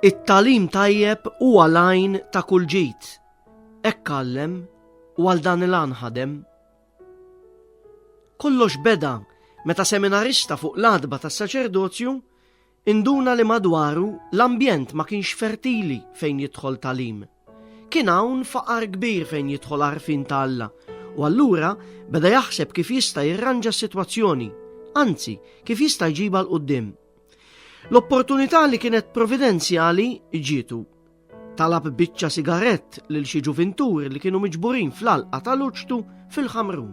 It-talim tajjeb huwa lajn ta' kull ġid. Hekk għallem u għal dan il-għan ħadem. Kollox beda meta seminarista fuq l-adba tas saċerdozju Induna li madwaru l-ambjent ma kienx fertili fejn jidħol tagħlim. Kien hawn faqar kbir fejn jidħol għarfien ta' Alla, u allura beda jaħseb kif jista' jirranġa s-sitwazzjoni, anzi, kif jista' jġibha 'l quddiem. L-opportunità li kienet providenzjali ġietu. Talab biċċa sigarett lil xi ġuvinturi li kienu miġburin fl-alqa tal-uċtu fil-ħamrun.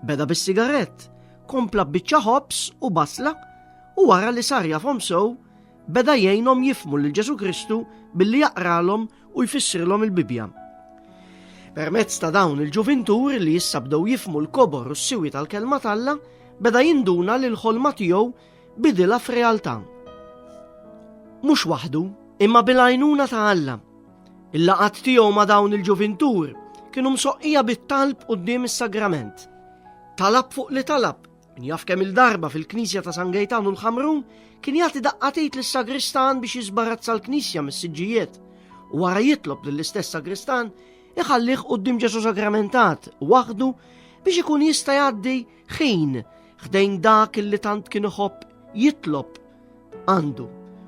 Beda bis-sigarett, kompla biċċa ħobs u basla u wara li sar jafhom sew beda jgħinhom jifmu lil Ġesu Kristu billi jaqralhom u jfissrilhom il-Bibja. Permezz ta' dawn il-ġuvintur li jissabdew jifmu l-kobor u s-siwi tal-kelma talla, beda jinduna li l-ħolma tiegħu bidilha f'realtà. Mhux waħdu, imma bil-għajnuna ta' Alla. Il-laqat tiegħu ma' dawn il-ġuvintur kienu msoqqija bit-talb quddiem is-sagrament. Talab fuq li talab, min jaf kemm il-darba fil-Knisja ta' San Gejtan u l-Ħamrun kien jagħti daqqatit lis-sagristan biex jiżbarazza l-Knisja mis-siġġijiet u wara jitlob lill-istess sagristan iħallih quddiem Ġesu Sagramentat waħdu biex ikun jista' jgħaddi ħin ħdejn dak li tant kien iħobb jitlob għandu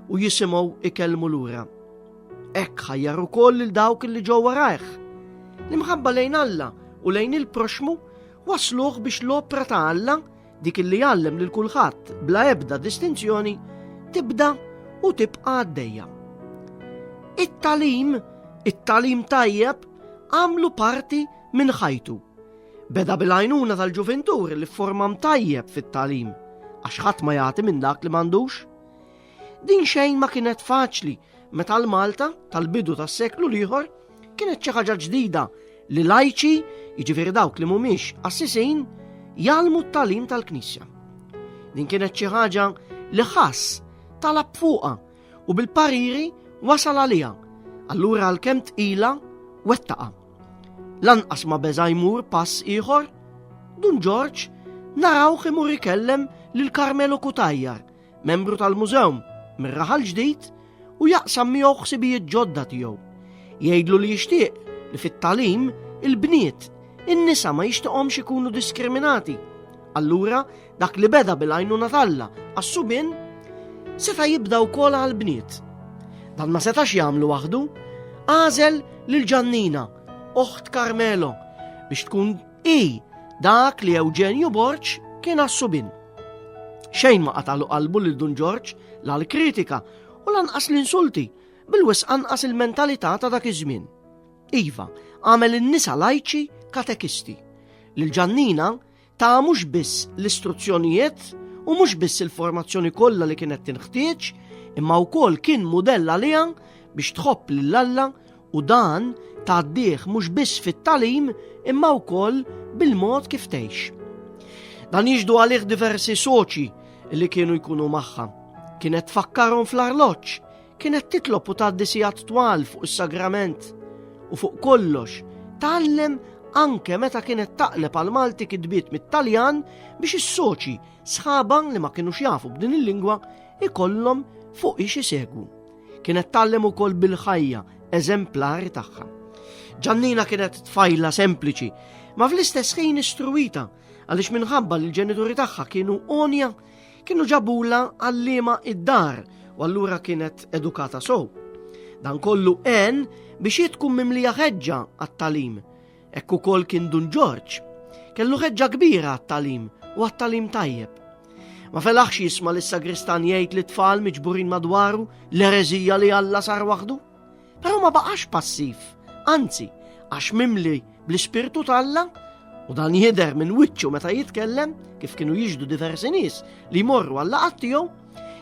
u jisimgħu ikellmu lura. Hekk ħajjar ukoll lil dawk li ġew warajh. L-imħabba lejn Alla u lejn il-proxmu wasluh biex l-opra ta' Alla dik li jgħallem lil kulħadd bla ebda distinzjoni tibda u tibqa' għaddejja. It-talim, it-talim tajjeb għamlu parti minn ħajtu. Beda bil-għajnuna tal-ġuvintur li formam tajjeb fit-talim, għax ħadd ma jagħti minn dak li m'għandux. Din xejn ma kienet faċli meta l-Malta tal-bidu tas-seklu l-ieħor kienet xi ħaġa ġdida li lajċi, jiġifieri dawk li mhumiex assisin, jalmu t-talim tal-Knisja. Din kienet xi ħaġa li ħass talab fuqa u bil-pariri wasal għalija, allura għal-kem tqila wettaqa. Lanqas ma beża jmur pass ieħor, Dun Ġorġ naraw imur ikellem lil Karmelo Kutajjar, membru tal-mużew mir-raħal ġdid u jaqsam miegħu ħsibijiet ġodda tiegħu. Jgħidlu li jixtieq li fit-talim il-bniet in-nisa ma jixtieqhomx ikunu diskriminati. Allura Dak li beda bil-għajnuna talla għas-subin seta' jibda wkoll għall-bniet. Dan ma setax jagħmlu waħdu, għażel lil Ġannina, oħt Carmelo, biex tkun i dak li Eugenio Borċ kien għas-subin. Xejn ma qatalu qalbu lil Dun Ġorġ la l-kritika u lanqas l-insulti bil-wis anqas il-mentalità ta' dak iż-żmien. Iva, għamel in-nisa lajċi katekisti. Lil Ġannina Ta' mhux biss l-istruzzjonijiet u mhux biss il-formazzjoni kollha li kienet tinħtieġ, imma wkoll kien mudell għaliha biex tħobb lil Alla u dan tgħaddih mhux biss fit-talim imma wkoll bil-mod kif tgħix. Dan jiġdu għalih diversi soċi li kienu jkunu magħha. Kienet tfakkarhom fl-arloġġ, Kienet titlob u tgħaddi sigħat twal fuq is-sagrament u fuq kollox tgħallem anke meta kienet taqleb għal Malti kitbiet mit-Taljan biex is-soċi sħaban li ma kienux jafu b'din il-lingwa ikollhom fuq ix isegwu. Kienet tgħallem ukoll bil-ħajja eżemplari tagħha. Ġannina kienet tfajla sempliċi, ma fl-istess ħin istruwita għaliex minħabba li l-ġenituri tagħha kienu onja Kienu ġabula għallima id-dar u allura kienet edukata sow. Dan kollu en biex hi tkun mimlija ħeġġa għat-talim. Hekk ukoll kien Dun Ġorġ. Kellu ħeġġa kbira għat-talim u għat-talim tajjeb. Ma felaħx jisma' lis sagristan jgħid li tfal miġburin madwaru l-erezija li Alla sar waħdu? Però ma baqax passiv, anzi, għax mimli bl-ispirtu talla, u dan jidher minn wiċċu meta jitkellem, kif kienu jiġdu diversi nies li jmorru għalla għattijom,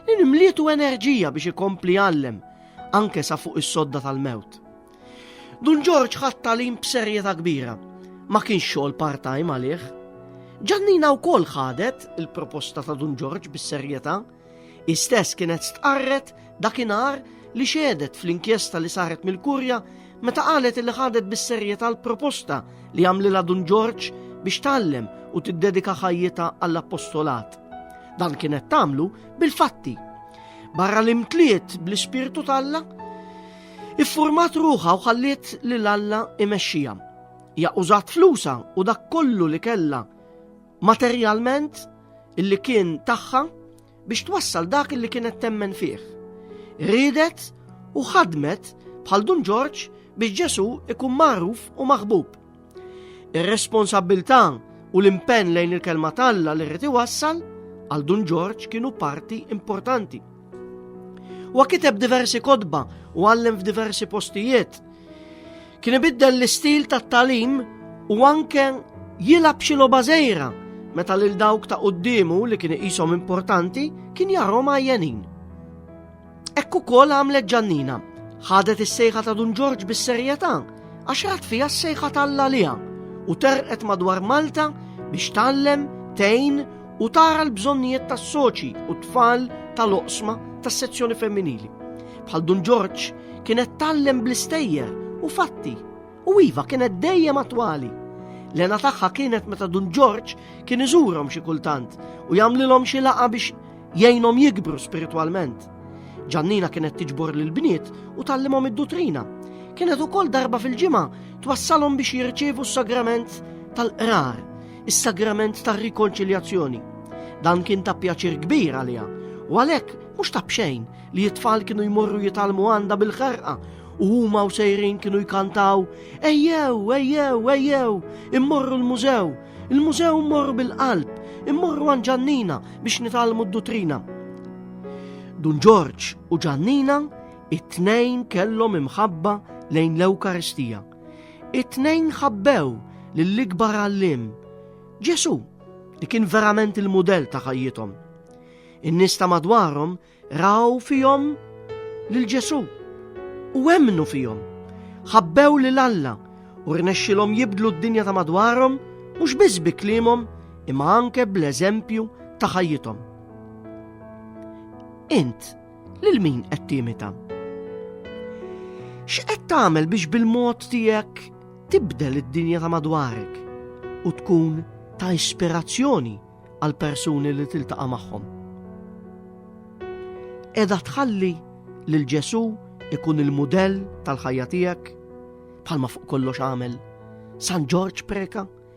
li nimlietu enerġija biex ikompli għallem, anke sa fuq is-sodda tal-mewt. Dun Ġorġ ħadd talim b'serjetà kbira, ma kienx xogħol part-time għalih. Ġannina wkoll ħadet il-proposta ta' Dun Ġorġ bis-serjetà Istess kienet stqarret dakinhar li xedet fl-inkjesta li saret mill-Kurja meta qalet li ħadet bis-serjetà l-proposta li għamlilha Dun Ġorġ biex tallem u tiddedika ħajjita għall-appostolat. Dan kienet tagħmlu bil-fatti. Barra li mtliet bl-ispirtu talla, iffurmat ruħa u ħalliet lil Alla imexxija. Ja użat flusa u dak kollu li kella materjalment illi kien tagħha biex twassal dak illi kienet temmen fih. Ridet u ħadmet bħal Dun Ġorġ biex Ġesu ikun magħruf u maħbub. Ir-responsabilità u l-impenn lejn il-kelma talla li rrid iwassal għal Dun Ġorġ kienu parti importanti. Huwa kiteb diversi kodba u għallem f'diversi postijiet. Kien ibiddel l-istil tat-talim u anke jilab xi logħba żejra meta lil dawk ta' quddiemu li kien iqishom importanti kien jarhom għajjenin. Ekku kol għamlet ġannina, ħadet is-sejħa ta' Dun Ġorġ bis-serjetà għax rat fija s-sejħa tal-lalija u terqet madwar Malta biex tallem, tejn u tara l-bżonnijiet tas-soċi u tfal tal-oqsma tas-sezzjoni femminili. Bħal Dun Ġorġ kienet tallem bl-istejjer u fatti u iva kienet dejjem attwali. Lena tagħha kienet meta Dun Ġorġ kien iżurhom xi kultant u jagħmlilhom xi laqa biex jgħinhom jikbru spiritwalment. Ġannina kienet tiġbor lil bniet u tallimhom id-dutrina. Kienet ukoll darba fil-ġimgħa twassalhom biex jirċievu s-sagrament tal-qrar. is-sagrament tar-rikonċiljazzjoni. Dan kien ta' pjaċir kbir għaliha u għalhekk mhux ta' bxejn li t-tfal kienu jmorru jitalmu għandha bil-ħarqa u huma u sejrin kienu jkantaw ejjew, ejjew, ejjew, immorru l-mużew, il-mużew mmorru bil-qalb, immorru għan ġannina biex nitalmu d-dutrina. Dun Ġorġ u ġannina it-tnejn kellhom imħabba lejn l-Ewkaristija It-tnejn ħabbew lill-ikbar għalliem, Ġesù, li kien verament il-mudell ta' ħajjithom. In-nies ta' madwarhom raw fihom lil Ġesù u emmnu fihom. Ħabbew lil Alla u rnexxilhom jibdlu d-dinja ta' madwarhom mhux biss bi kliemhom imma anke bl-eżempju ta' ħajjithom. Int Lil min qed timita? X'qed tagħmel biex bil-mod tiegħek tibdel id-dinja ta' madwarek u tkun ta' ispirazzjoni għal persuni li tiltaqa' magħhom? Edha tħalli lil Ġesu ikun il-mudell tal-ħajja tiegħek bħalma fuq kollox għamel San Ġorġ Preka